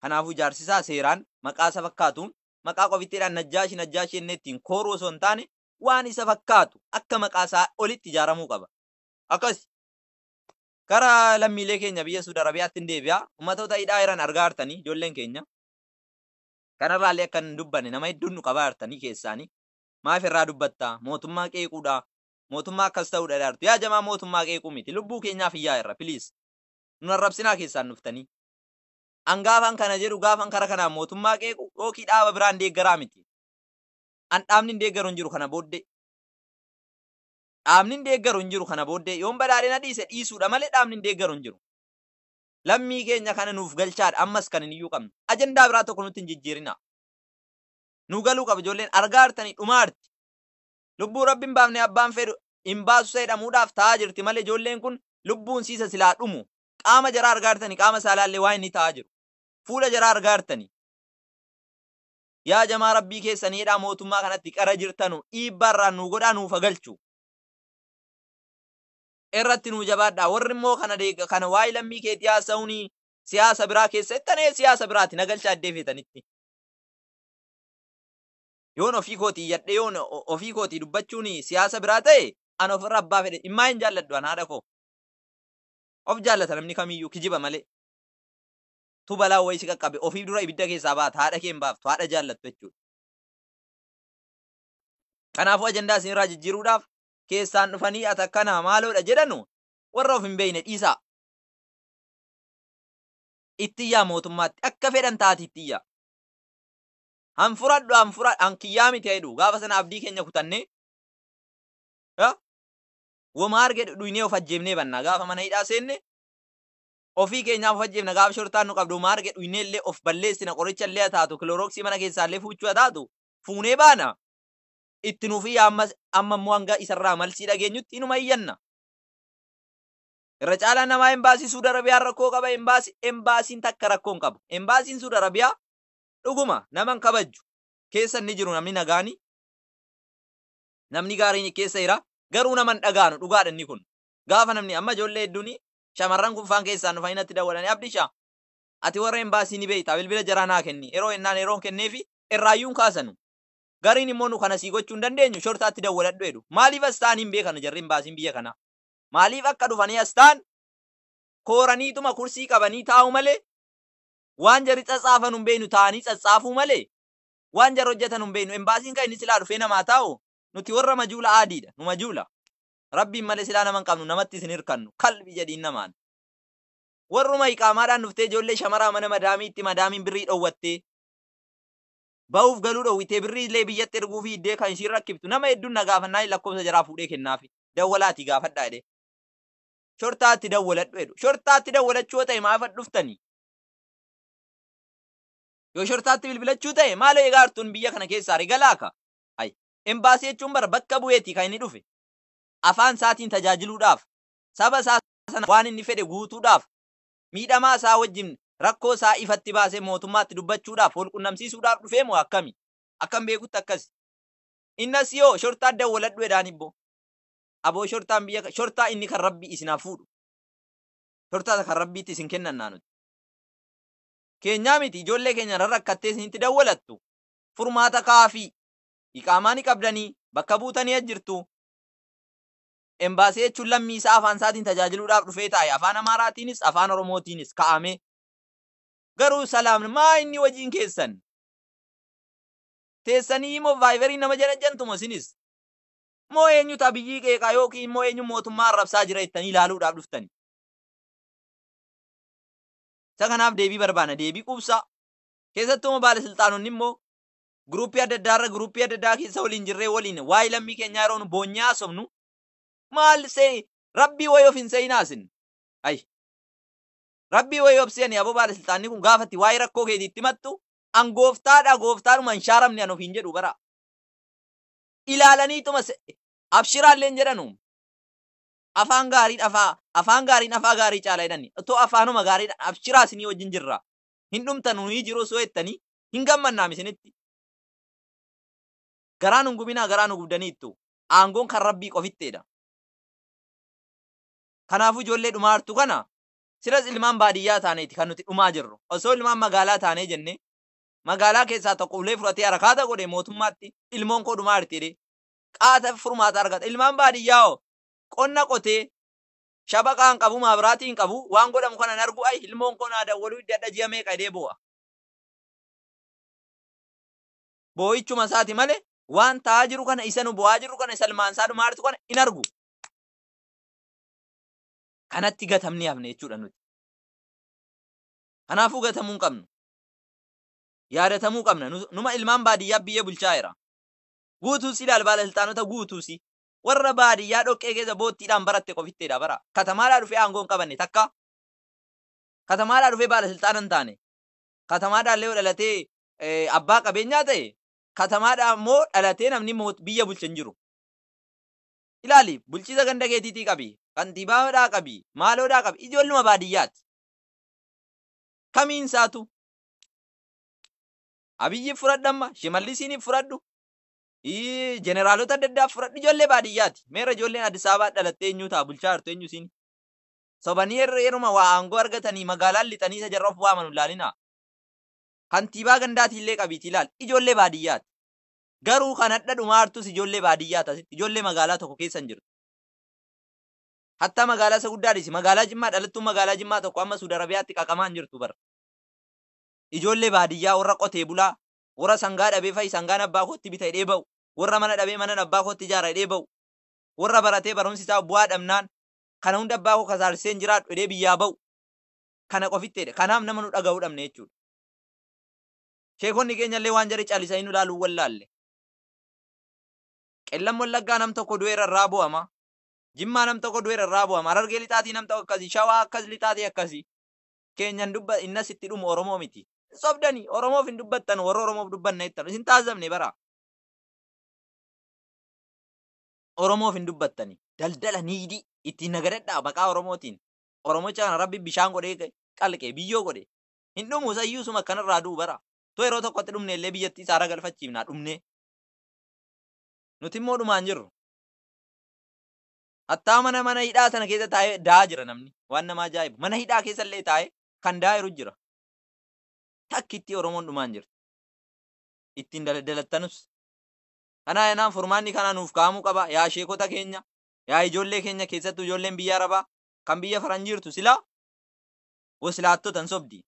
Kanaafuu jaarsi isaa seeraan maqaa isa fakkaatuun maqaa qofittiidhaan Najjaashi Najjaashi jennee ittiin kooruu osoo hin taane waan isa fakkaatu akka maqaa isaa olitti ijaaramuu qaba. Akkas. Gara lammiilee keenya biyya Suud Arabiyaattin deebi'a. Ummatoota hidhaa jiran argaa jirtanii ijoolleen keenya. Kanarraallee akka hin dubbanne nama hedduun nu qabaa jirtanii keessaanii. Maaf irraa dubbatta? Mootummaa qeequudha. Mootummaa akkas ta'uudha dhaartu. Yaa jamaa mootummaa qeequu miti. Lubbuu keenyaaf iyyaa irra please. Nun arrabsinaa keessaan dhuftanii. An gaafan kana jedhu gaafan kara kanaan mootummaa qeequ yookii dhaaba biraan deeggaraa miti. An dhaabnin deeggaru hin jiru kana booddee. Dhaabnin deeggaru hin jiru kana booddee. Yoon badhaadhina dhiise dhiisuudha malee dhaabnin deeggaru hin jiru. Lammii keenya kana nuuf galchaadha ammas kan iniyyuu qabnu. Ajandaa biraa tokko nutti hin jijjiirinaa. Nuu galuu qaba ijoolleen argaa jirtanii dhumaa jirti. Lubbuu rabbi hin baafne abbaan fedhu hin baasu isa jedhamuudhaaf taa'aa jirti malee ijoolleen kun lubbuun siisa silaa dhumu. qaama jaraa argaa jirtani qaama saalaa illee waa inni ta'aa jiru fuula jaraa argaa jirtani yaa jamaa rabbii keessan jedhaa mootummaa kanatti qara jirtanu dhiibbaa irraan nuu godhaa nuuf hagalchu irratti nuu jabaadhaa warri immoo kana deega kana waa'ee lammii keetii haasa'uuni siyaasa biraa keessa ittanee siyaasa biraati nagalcha addee feetanitti yoon ofii kootii yadhe yoon o- ofii kootii dubbachuun siyaasa biraa ta'e an ofirra abbaa fedhe dhimmaa hin jaalladhu an haadha koo Of jaallata namni kamiyyuu kijiba malee. Tu balaa wayii si qaqqabe ofiif dura ibidda keessaa baata haadha kee hin baaftu haadha jaallattu jechuudha. Kanaafuu ajandaa isinirraa jijjiiruudhaaf keessaan dhufanii ati akkanaa maaloodha jedhanu warra of hin beekne dhiisaa. Ittiyyaa mootummaatti akka fedhan taati ittiyyaa. Han fudhadhu han fudhadhu han kiyyaa miti jedhu gaafa sana abdii keenya kutannee woma arge dhudhuynee of ajjeefnee banna gaafa mana hidhaa seenne ofii keenyaaf of ajjeefna gaafa shortaan nu qabdu woma arge dhuynee illee of balleessina qoricha illee haa taatu kiloorooksii mana keessaa illee fuuchuu haa taatu fuunee baana itti nuuf iyya amma amma immoo hanga isarraa malsii dhageenyutti inuma iyyanna. Irra caalaan namaa embaasii Suud Arabiyaan rakkoo qaba embaasii embaasiin takka rakkoo hin qabu. Embaasiin Suud Arabiyaa dhuguma nama hin kabajju. Keessa inni jiru namni nagaani Namni gaariin keessa jira. Garuu nama hin dhagaanu dhugaadha inni kun. Gaafa namni amma ijoollee hedduun shamarran kun faan keessaan dhufanii natti dawwalanii abdisha ati warra embaasii ni beektaa bilbila jaraa naa kenni yeroo ennaan yeroon kenneefi irraayyuun kaasanu. Gariin immoo nu kana sii gochuu hin dandeenyu shortaatti dawwaladhu jedhu. Maaliif as ta'anii hin beekanu jarri embaasiin biyya kanaa. Maaliif akka dhufanii as ta'an kooraniituma kursii qabanii taa'u malee waan jarri tsatsaafanu hin beeknu taa'anii tsatsaafuu malee Waan jara hojjatanu hin beeynu. Embaasiin kan inni silaa dhufee nama haa taa'u? Nuti warra majuula aadiidha. Nu majuula. Rabbiin malee silaa nama hin qabnu, namattis hin hirkannu. Kalbi jedhiin namaan. Warruma iqaamaadhaan dhuftee ijoollee shamaraa mana madaamiitti madaamiin birrii dhowwattee bahuuf galuu dhowwitee birrii illee biyyatti erguu fiiddee kan ishiin rakkiftu nama hedduun na gaafannaan lakkoofsa jaraa fuudhee kennaafi. Dawwalaati gaafadhaa jedhee. Shortaatti dawwaladhu jedhu. Shortaatti dawwalachuu yoo ta'e maaf dhuftanii? Yoo shortaatti bilbilachuu ta'e maaloo egaa artuun biyya kana keessaa regalaa ka. Ay. Embaasii jechuun bara bakka bu'eeti kan inni dhufe. Afaan isaatiin tajaajiluudhaaf. Saba isaa sana waan inni fedhe guutuudhaaf. Miidhamaa isaa wajjin rakkoo isaa ifatti baasee mootummaatti dubbachuudhaaf, wal qunnamsiisuudhaaf dhufee moo akkami? Akkan beekutti akkasi. Innas yoo shortaa dawwaladhu edaan ibbo. Aboo shortaan biyya ka- shortaa inni kan rabbi isin haa fuudhu. Shortaa kan rabbiitti isin kennannaa nuti. keenyaa miti ijoollee keenya irra rakkattee isinitti dawwalattu furmaata kaafii iqaamaa ni qabdanii bakka buutanii as jirtu embaasii jechuun lammii isaa afaan isaatiin tajaajiluudhaaf dhufee taa'e afaan amaaraatiinis afaan oromootiinis ka'amee garuu salaamna maa inni wajiin keessan teessanii immoo vaayibarii nama janajjantumo isinis moo eenyutu abiyyii qeeqaa yookiin immoo eenyu mootummaa arrabsaa jira jettanii ilaaluudhaaf dhuftani Isa kanaaf deebii barbaanna, deebii quubsaa. Keessattuu immoo baalasilxaanonni immoo giruuppii adda addaa irra giruuppii adda addaa keessa waliin jirree waliin waa'ee lammii keenyaa yeroo nu boonyee haasofnu maal see rabbii wayii of hin seeyinaa isin. Ayi. Rabbii wayii of seeyanii aboo baalasilxaanni kun gaafa itti waa'ee rakkoo keetii itti himattu an gooftaadha gooftaadhuma hin shaaramne an ofiin jedhu bara. Ilaalaniituma se- abshiraallee hin jedhanu. Afaan gaariin afaa afaan gaariin afaa gaarii caala jedhani. Otoo afaanuma gaariidhaan abshiraa isinii wajjin jirra. Hin dhumtan nuyi jiru osoo jettanii hin gammannaam isinitti. Garaa nun gubinaa garaa nu gubdaniittu. Aangoon kan Rabbii qofitteedha. Kanaafuu ijoollee dhumaa jirtu kana silas ilmaan baadiyyaa taaneeti kan nuti dhumaa jirru. Osoo ilmaan magaalaa taanee jennee magaalaa keessaa tokko ulee fudhatee harakaata godhe mootummaatti ilmoon koo dhumaa jirti jedhee qaata furmaata argata. Ilmaan baadiyyaa hoo qonna qotee shabaqa hin qabu, maabiraatii hin qabu, waan godhamu kana hin argu, ayi ilmoon koo naa dawwaluu didde hadha ji'a meeqa jedhee boo'a. Boo'ichuma isaati malee waan ta'aa jiru kana isa nu boo'aa jirru kana isa ilmaan isaa dhumaa jirtu kana hin argu. Kanatti gatamnee hafne jechuudha nuti. Kanaafuu gatamuu hin qabnu. Yaadatamuu qabna. Nu- Numa ilmaan baadiyyaa biyyee bulchaa jira. Guutuun si laal baalasilxaanota guutuu si. Warra baadiyyaa dhoqqee keessa boottiidhaan baratte qofittedha bara. Katamaadhaa dhufee aangoo hin qabanne takka. Katamaadhaa dhufee baalasilxaana hin taane. Katamaadhaallee yoo dhalatee abbaa qabeenyaa ta'e katamaadhaa immoo dhalatee namni biyya bulche hin jiru. Ilaali bulchiisa ganda keetiitii qabi, kantiibaadhaa qabi, maaloodhaa qabi ijoolluma baadiyyaati. Kamiin isaatu. Abiyyiif fudhadhu amma, Shimallisiiniif fudhadhu, ii, jeneraalota adda addaaf fudhadhu ijoollee baadiyyaati. Meerra ijoolleen Addis Ababaa dhalattee eenyuu ta'a bulchaa jirtu eenyu isiin? Sobanii yerra- yeruma waa aangoo argatanii magaalaan lixanii isa jarra of waamanu ilaalinaa. Kantiibaa gandaatii illee qabiitii ilaali. Ijoollee baadiyyaati. Garuu kan hadha dhumaa jirtus ijoollee baadiyyaati asitti. Ijoollee magaalaa tokko keessa hin jirtu. Hattaa magaalaa isa guddaa dhiisi. Magaalaa Jimmaa dhalattuun magaalaa Jimmaa tokko amma Suudi Arabiyaatti qaqamaa hin jirtu bara. ijoollee baadiyyaa warra qotee bulaa, warra sangaa dhabee fa'i sangaan abbaa kootti bita jedhee ba'u, warra mana dhabee manan abbaa kootti ijaara jedhee ba'u, warra baratee barumsi isaa bu'aa dhabnaan kana hunda abbaa koo kasaarsisee hin jiraadhu jedhee biyyaa ba'u kana qofitti jedhe. Kanaaf nama nu dhaga'u dhabne jechuudha. Sheekonni keenya illee waan jari calisanii nu ilaaluu wallaalle. Qellam Wallaggaa nam tokko du'eera irraa bu'ama. Jimmaa nam tokko du'eera irraa bu'ama. Harargee lixaatii nam tokko akkasii. Shawaa akkas lixaatii akkasii. keenyan dubba innas itti dhumu Oromoo miti. Hin sobdani Oromoof hin dubbattanu warra Oromoof dubbanna jettan isin taasifamne bara. Oromoof hin dubbattani daldala niidii ittiin nagadadhaa maqaa Oromootiin Oromocha kana rabbi bishaan godhee qalqe biyyoo godhe hin dhumu sayyuu suma akkanarraa du'u bara. Tu yeroo tokkotti dhumne illee biyyattii isaara galfachiifnaa dhumnee. Nuti immoo dhumaan jirru. Hattaa mana mana hidhaa sana keessa taa'ee daa'a jira namni. Waan nama ajaa'ibu. Mana hidhaa keessa illee taa'ee kan daa'a jiru jira. Takkittii Oromoon dhumaa hin jirtu. Ittiin daladdalattanus. Kanaa yanaan furmaanni kanaa nuuf kaa'amuu qaba. Yaa sheekota keenya, yaa ijoollee keenya keessattuu ijoolleen biyya Arabaa kan biyya faran jirtu silaa waslaattota hin sobdi.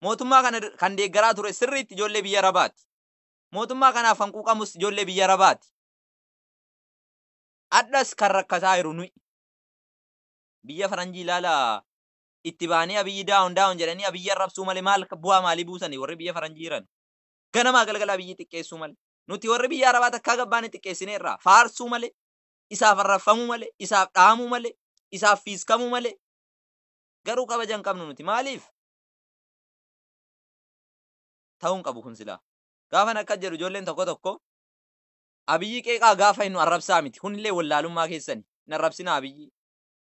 Mootummaa kana kan deeggaraa ture sirriitti ijoollee biyya Arabaati. Mootummaa kanaaf kan quuqamus ijoollee biyya Arabaati. Hadhas kan rakkataa jiru nuyi. Biyya faranjii ilaala itti baanii abiyyi daawon daawon jedhanii abiyyi arrabsuu malee maal bu'aa maalii buusanii warri biyya faranjii jiran. Ganamaa galgala abiyyi xiqqeessuu malee. Nuti warri biyya arabaa takkaa gabbaanii xiqqeessineerraa faarsuu malee isaaf arrabfamuu malee isaaf dhahamuu malee isaaf fiiskamuu malee garuu kabaja hin qabnu nuti maaliif? Ta'uu hin qabu kun silaa. Gaafan akkas jedhu ijoolleen tokko tokko Abiyyi qeeqaa gaafa hinnu arrabsaa miti kunillee wallaalummaa keessani hin arrabsinaa Abiyyi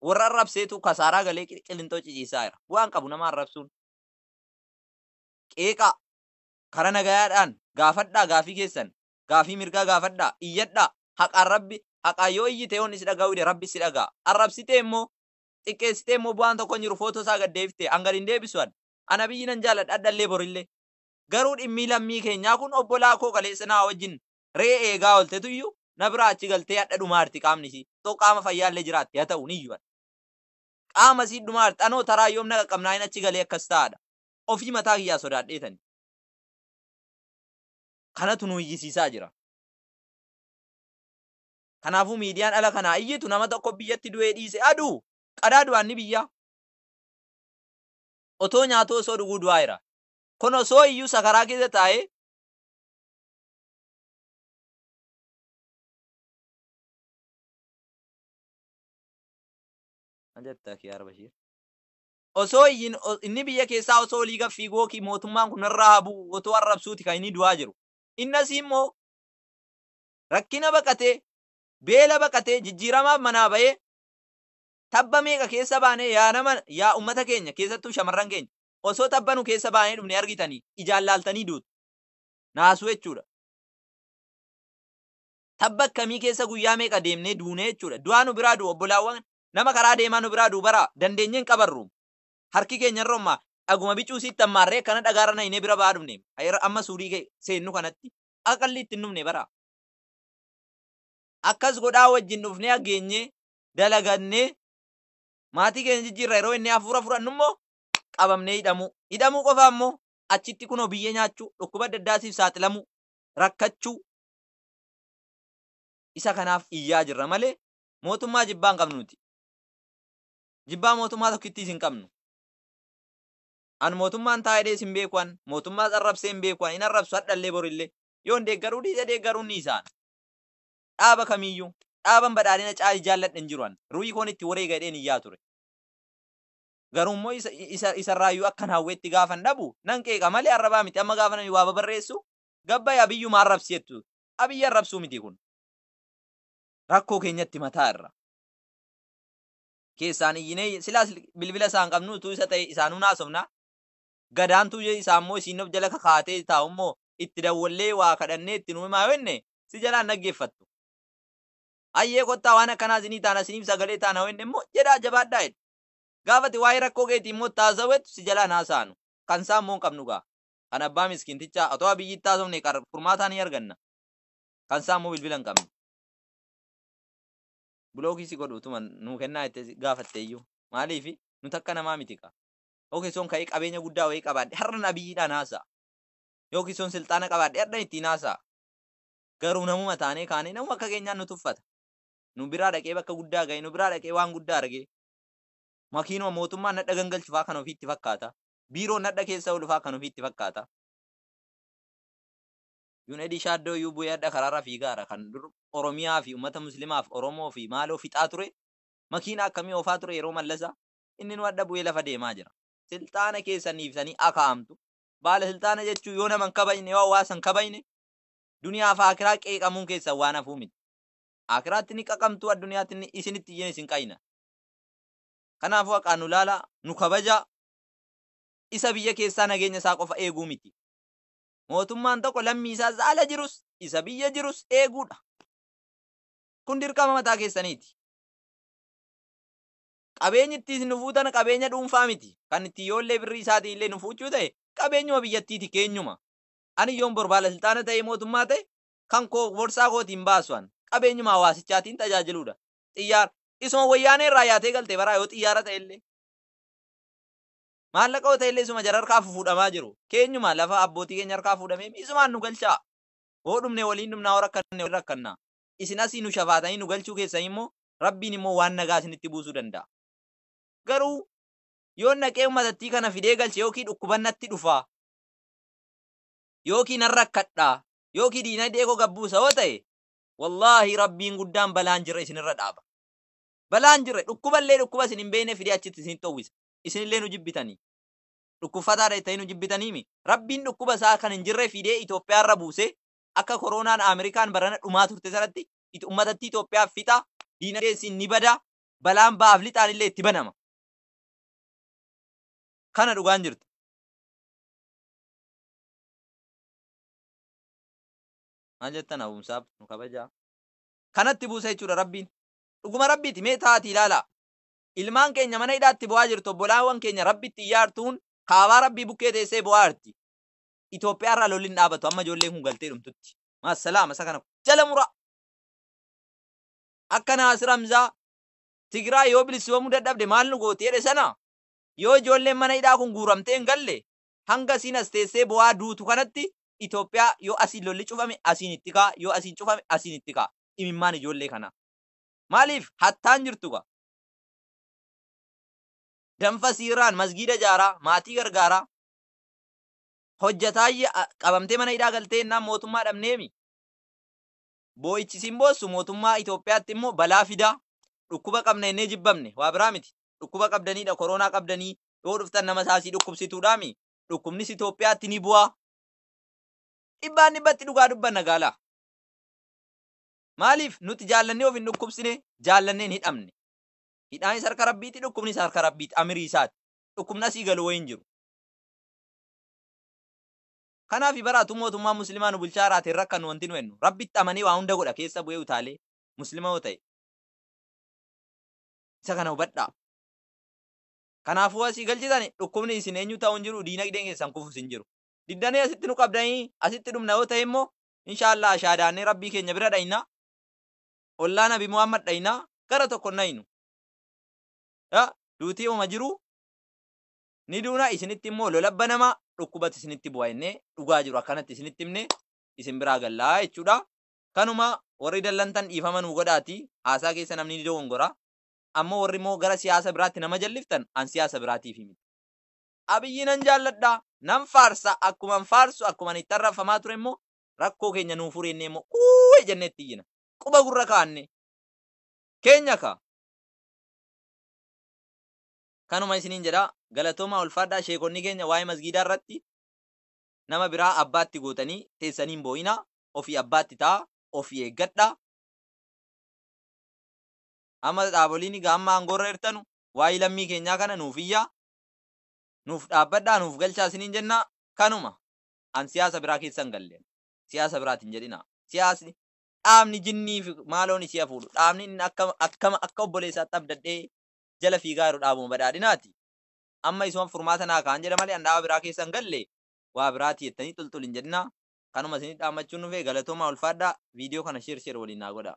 warra arrabseetu kasaaraa galee qilinxoo ciciisaa jira bu'aan qabu nama arrabsuun qeeqaa kara nagayaadhaan gaafadhaa gaafii keessan gaafii mirgaa gaafadhaa iyyadhaa haqaan rabbi haqaan yoo iyyite yoon isi dhaga'uu dide rabbi si dhaga'a arrabsitee immoo xiqqeessitee immoo bu'aan tokko hin jiru footoo isaa gad deebiftee an gad hin deebisu an an abiyyi nan jaaladha addallee borillee garuu dhimmii lammii keenyaa kun obbolaa koo kaleessa naa wajjin re'ee eegaa ooltetu iyyuu na biraa achi galtee hadha dhumaarti qaamni isii. Otoo qaama fayyaallee jiraatte haa ta'u ni iyyuu hadha. Qaama isii dhumaarti anoo taraa yoom na qaqqabnaayin achi galee akkas ta'a hadha. Ofii mataa kiyyaa sodaadheetani. Kanatu nu iyyisiisaa jira. Kanaafuu miidiyaan ala kanaa iyyitu nama tokko biyyatti du'ee dhiise haa du'u. Qadaa du'aan ni biyyaa. Otoo nyaatuu osoo dhuguu du'aa jira. Kun osoo iyyuu sakaraa keessa taa'ee Osoo iyyin inni biyya keessaa osoo olii gad fiiguu ok mootummaan kun narraa haa bu'u otoo arrabsuuti kan inni du'aa jiru. Inni asii immoo rakkina baqatee, beela baqatee, jijjiiramaaf manaa bahee tabba meeqa keessa baanee yaa nama yaa ummata keenya keessattuu shamarran keenya osoo tabba nu keessa baanee dhufne argitanii ijaan laaltanii duutu. naasuu jechuudha. Tabba akkamii keessa guyyaa meeqa deemnee duunee jechuudha. Du'aa nu biraa du'u obbolaawwan nama karaa deemaa nu biraa du'u bara dandeenyee hin qabarru. Harki keenya irra ummaa dhaguma bicuu siitti ammaarree akkana dhagaarra nayinee bira ba'aa dhufne. Ayera amma suurii kee seennu kanatti akka qalliitti hin dhufne bara. Akkas godhaa wajjin dhufnee hageenyee dalagannee maatii keenya jijjiirra yeroo inni hafuura fudhannu immoo qabamnee hidhamuu. Hidhamuu qofaa immoo achitti kunoo biyyee nyaachuu, dhukkuba adda addaatiif saaxilamuu, rakkachuu isa kanaaf iyyaa jirra malee mootummaa jibbaa hin qabnu nuti. Jibbaa mootummaa tokkittiis hin qabnu. An mootummaan taa'edhees hin beeku an, mootummaas arrabsee hin beeku an, hin arrabsu hadhallee borillee. Yoon deeggaruu dhiise deeggaruun ni isaan. Dhaaba kamiiyyuu, dhaaban badhaadhina caalii jaalladhe hin jiru an. Ruhii koon itti wareega jedheen iyyaa ture. Garuu immoo isa, isa, isarraayyuu akkan hawwetti gaafan dhabu nan qeeqa malee arrabaa miti. Amma gaafa namni waa babarreessu gabbayi abiyyuma arrabsi jettu. Abiyyi arrabsuu miti kun. Rakkoo keenyatti mataa irra. Keessaan iyyinee silaas bilbila isaan qabnu utuu isa ta'e isaanuu naasofna. Gadaantuu je- isaa immoo isiin of jala kakaatee taa'u immoo itti dawwallee waa kadhannee itti nuu himaa yoo jenne si jalaan dhaggeeffattu. Ayyee kottaa waan akkanaa isinii taana isiniif sagalee taana yoo jenne immoo jedhaa jabaadhaa jedhu. Gaafa ati waa'ee rakkoo keetii immoo itti haasawetu si jalaa hin haasa'anu. Kan isaa immoo hin qabnu gaa. Kan abbaa miskiintichaa otoo Abiyyiitti haasofne qar furmaataa ni arganna. Kan isaa immoo bilbila hin qabnu. Bulookii si godhu utuma nuu kennaa jettee si gaafattee iyyuu. Maaliifi? Nuti akka namaa miti kaa. Yookiin soon ka'ee qabeenya guddaa wayii qabaadhe har'an Abiyyiidhaan haasa'a. Yookiin soon silxaana qabaadhe har'an ittiin haasa'a. Garuu namuma taanee kaanee namuma akka keenyaan nu tuffata. nu biraa dhaqee bakka guddaa gahe, nu biraa dhaqee waan guddaa arge. Makiinuma mootummaan nadha gangalchu faa kan ofii itti fakkaata. Biiroon nadha keessa oolu faa kan ofii itti fakkaata. Junedi Shaaddoo iyyuu bu'ee hadha karaarra fiigaara. Kan dur Oromiyaa fi uummata Muslimaaf Oromoo fi maaloo fixaa ture, makiinaa akkamii oofaa ture yeroo Mallasa, inninuu hadha bu'ee lafa deemaa jira. Silxaana keessan dhiiftanii akaa'amtu. Baala silxaana jechuun yoo nama hin kabajne, yoo hawaasa hin kabajne, duniyaa fi aakiraa qeeqamuun keessan waan hafuu miti. Aakiraatti ni qaqamtuu adduniyaatti ni isinitti iyyine isin qayna. Kanaafuu haqaan nu laalaa, nu kabajaa. Isa biyya keessaa nageenya isaa qofa eeguu miti. Mootummaan tokko lammii isaa isa ala jirus, isa biyya jirus eeguu dha. Kun dirqama mataa keessaniiti. Qabeenyi itti isin nu fuutan qabeenya dhuunfaa miti. Kan itti yoollee birrii isaatiin illee nu fuuchuu ta'e qabeenyuma biyyattiiti keenyuma. Ani yoon bor baala silxaana ta'ee mootummaa ta'e kan koo borsaa kooti hin baasu an. Qabeenyuma hawaasichaatiin tajaajiluudha. Xiyyaara. Isuma wayyaanee irraa yaatee galte baraa yoo xiyyaara ta'e illee. Maallaqa yoo ta'e illee isuma jara harkaa fufuudhamaa jiru. Keenyuma lafa abbootii keenya harkaa fuudhamee mi isumaan nu galchaa. Hoo dhumne waliin dhumnaa hoo rakkanne waliin rakkannaa. Isin asii nu shafaatanii nu galchuu keessanii immoo Rabbiin immoo waan nagaa isinitti buusuu danda'a. Garuu yoon dhaqee ummatattii kana fidee galche yookii dhukkuban natti dhufaa. Yookii nan rakkadhaa. yookii diinagdee koo gad buusa yoo ta'e wallaahi rabbiin guddaan balaan jirre isinirra dhaaba balaan jirre dhukkuballee dhukkuba isin hin beekne fidee achitti isinitti howwisa isinillee nu jibbitanii dhukkubfataadha jettanii nu jibbitaniimi rabbiin dhukkuba isaa kan hin jirre fidee Itoophiyaarra buuse akka koroonaan Ameerikaan barana dhumaa turte sanatti it- ummatatti Itoophiyaa fixa diinagdee isin ni bada balaan ba'aaf lixaan illee itti banama kana dhugaan jirtu maal jettan hawumsaaf nu kabajaa kanatti buusa jechuudha rabbiin dhuguma rabbiiti mee taati ilaalaa ilmaan keenya mana hidhaatti bu'aa jirtu obbolaawwan keenya rabbitti iyyaartuun kaabaa rabbii bukkee teessee bu'aa jirti Itoophiyaa irraa lolli hin dhaabatu amma ijoolleen kun galtee dhumtutti maasalaama isa kana jala muraa akka naasir hamzaa tigiraa yoo bilisumamuu dadhabde maal nu gooti jedhe sana yoo ijoolleen mana hidhaa kun guuramtee hin galle hanga isiin as teessee boo'aa duutu kanatti Itoophiyaa yoo asiin lolli cufame asiin itti ka'a yoo asiin cufame asiin itti ka'a imimmaan ijoollee kanaa maaliif hattaan jirtu gaa danfa siiraan masgiida jaaraa maatii gargaaraa hojjataayye qabamtee mana hidhaa galtee innaan mootummaa dhabneemi boo'ichi siin boossu mootummaa Itoophiyaatti immoo balaa fidaa dhukkuba qabna innee jibbamne waa biraa miti dhukkuba qabdaniidha koroonaa qabdanii yoo dhuftan nama isaa sii dhukkubsituudhaami dhukkubnis Itoophiyaatti ni bu'aa dhibbaan dhibbatti dhugaa dubbanna gaalaa maaliif nuti jaallannee of hin dhukkubsine jaallannee hin hidhamne hidhaanis harka rabbiiti dhukkubnis harka rabbiiti amirii isaati dhukkubni asii galu wayiin jiru kanaaf baraatu mootummaa muslimaa nu bulchaa jiraate hin rakkannu wanti nu hennu rabbitti amanee waa hunda godha keessa bu'ee utaalee muslima yoo ta'e isa kana hubadhaa Kanaafuu asii galchitani dhukkubni isin eenyu ta'u hin jiru diinagdeen keessan kufus hin jiru. Diddanii asitti nu qabdanii asitti dhumna yoo ta'e immoo inshaallaa ashaadaannee rabbii keenya bira dhayna. Ollaa nabi Muhammad dhayna gara tokko hin dhaynu. Ya duutii uma jiru ni duuna isinitti immoo lola banama dhukkubatu isinitti bu'a jennee dhugaa jiru akkanatti isinitti himne isin biraa gallaa jechuudha. Kanuma warri dallantan dhiifama nuu godhaati haasaa keessa namni ni dogongora. Amma warri immoo gara siyaasa biraatti nama jalliftan an siyaasa biraatiifi miti. Abiyyi nan jaalladha, nan faarsa, akkuman faarsu akkuman itti arrabfamaa ture immoo rakkoo keenya nuu furi jennee immoo uuy jennee itti iyyina. Quba gurra kaa'anne. Keenya kaa. Kanuma isiniin jedha. Galatoomaa ulfaadhaa sheekonni keenya waa'ee masgiidaa irratti nama biraa abbaatti gootanii teessanii hin boo'ina. Ofii abbaatti ta'a. Ofii eeggadha. Amma dhaaboliin egaa amma aangoorra jirtanu waa'ii lammii keenyaa kana nuuf iyyaa, nuuf dhaabbadhaa, nuuf galchaa isiniin jennaa. Kanuma. An siyaasa biraa keessa hin galle. Siyaasa biraati hin jedhinaa. Siyaasni dhaabni jinnii fi maaloon isii hafuudhu. Dhaabni inni akka akka akka obboleessaatti abdadhee jala fiigaa jiru dhaabuma badhaadhinaati. Amma isuma furmaata naa kaa'an jedha malee an dhaaba biraa keessa hin galle waa biraati jettanii xulxul hin jedhinaa. Kanuma isinii dhaammachuun dhufee galatoomaa ulfaadhaa viidiyoo kana sheer sheer waliin naa godhaa.